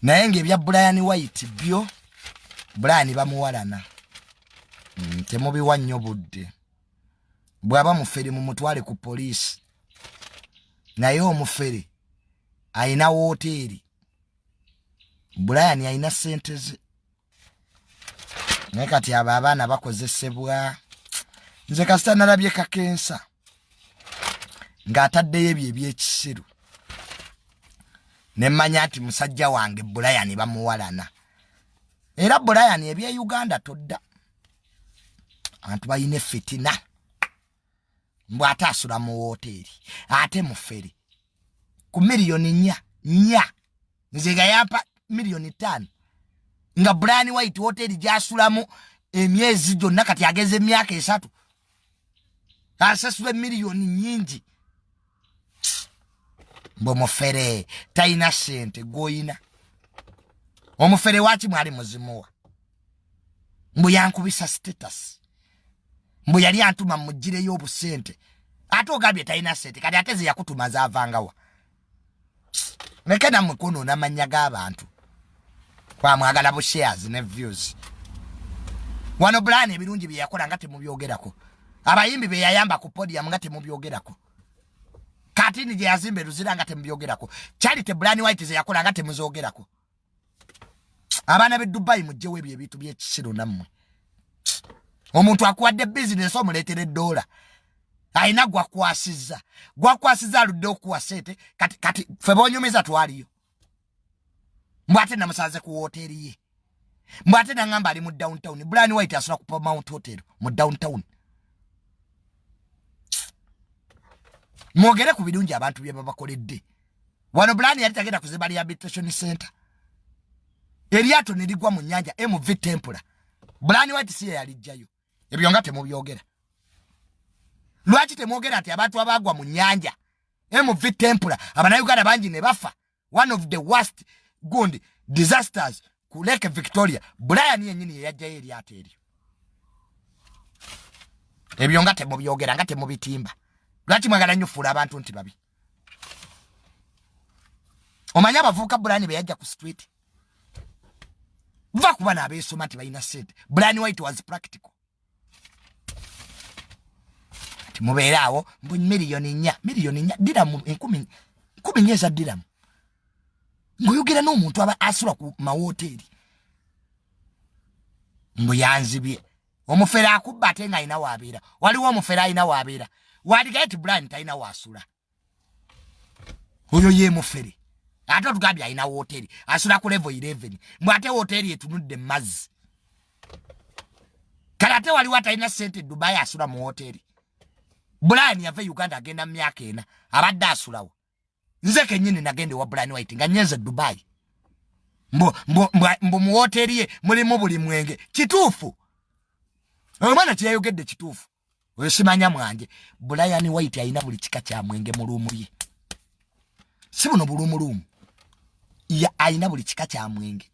naye ngaebya brian white byo brian bamuwalana mm, temubiwa nnyo budde bwaba mufere mumutwale ku poliisi naye omufere ayina wooteeri brian ayina sente ze naye kati abo abaana bakozesebwa nze kasita nalabye kakensa ng'ataddeyo ebyo ebyekisiru ne mmanya nti musajja wange bulayani bamuwalana era bulayani ebye uganda todda abantu balina effitina mbu ate asula mu wooteeri ate mufere ku miliyoni nya nya nze nga yampa miliyoni ttaano nga bulani white wooteeri gyasulamu emyezi gyonna kati ageza emyaka esatu asasula emiliyoni nyingi mbu mufere talina sente gwoyina omufere waki mwali muzimuwa mbu yankubisa status mbu yali antuma mugireyo obusente ate ogambye talina sente kati ate zeyakutumaza avangawa neke namwe kwonoona amannya g'abantu kwamwagala bu shares ne views wano bulaani ebirungi bye yakola nga temubyogerako abayimbi be yayamba ku podium nga temubyogerako katini gye yazimba eruzira nga temubyogerako charity bulaani white ze yakola nga temuzoogerako abaana be dubai mujjewo ebyo ebintu byekisiru nammwe omuntu akuwadde bizinesi omuleetera eddoola alina gwakwasiza gwakwasiza aludde okuwa sente kati kati fe bonyumiza twaliyo mbw ate namusanze ku woteeri ye mbw ate nangamba ali mu downtown blan white asula ku pomount hotel mu downtown mwogere ku birungi abantu byebabakoledde wano bulani yali tagenda kuzimba rehabilitation center eryato ne ligwa mu nnyanja mv tempula bulani wati si yeyalijjayo ebyo nga temubyogera lwaki temwogera nti abantu abaagwa mu nnyanja mv tempula abanauganda bangi ne bafa one of the worst gundi disasters ku lake victoria brian yenyini yeyajjayo eryato eryo ebyo nga temubyogera nga temubitimba lwaki mwagala nnyo fuula abantu nti babi omanyi abavubuka brian beyajja ku street va kuba nabeesoma nti balina sente brian white was practical mubeere awo mbu miliyoni nya miliyoni nya diramu enkumi nkumi nya eza diramu ngaoyogera n'omuntu aba asula ku mawoteeri mbu yanzibye omufere akubba ate nga alina wabeera waliwo omufere alina wabeera waligaye ti bulani talina wasula oyo ye mufere ate otugambye alina woteri asula ku levo 11 mbu ate woteri etunudde mumazzi kale ate waliwo atalina sente e dubai asula mu woteri brian yava e uganda agenda mu myaka ena abadde asulawo nze kenyini nagenda ewa brian white nga nyenze dubai mbu muwoteri ye mulimu buli mwenge kituufu omwana kyeyayogedde kituufu oyo simanya mwanje bulayani waiti alina buli kika kya mwenge mu luumu ye si buno buluumuluumu ye alina buli kika kya mwenge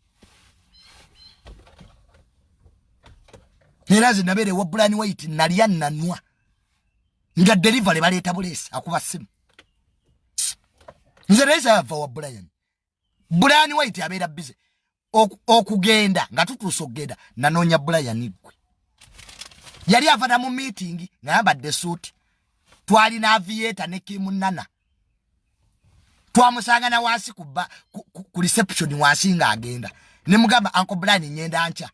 era nze nabeera ewa bulayani waiti nalya nanwa nga delivery baleeta buleesi akuba simu nze naye zava wa bulayani brian white abeera bize okugenda nga tutuusa okugenda nanoonya brian gwe yali avana mu miitingi nga yambadde esuuti twalina aviyeeta ne kimunana twamusanga na wansi ku, ku, ku, ku reception wansi nga agenda ne mugamba anko brian ngenda nkya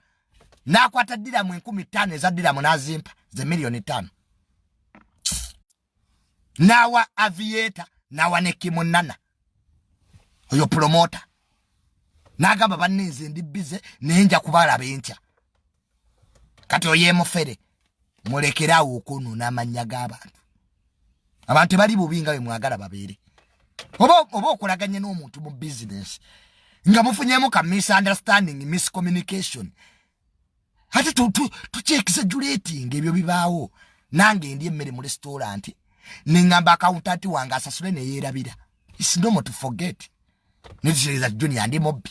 nakwata diramu enkumi ttaano eza diramu nazimpa ze miliyoni ttaano n'awa aviator n'awa ne kimunana oyo pulomota n'agamba banne nze ndi bize naye nja kubalaba enkya kati oyo emufere mulekere awo okwonona amannya g'abantu abantu tebali bubi nga bwe mwagala babeere oba okulaganya n'omuntu mu bizinesi nga mufunyemu ka misunderstanding miscommunication ate tukyekizajulating ebyo bibaawo nange endi emmere mu restaurant nengamba akawuntanti wange asasule neyerabira isnomo to forget netusereza junior ndi mobbi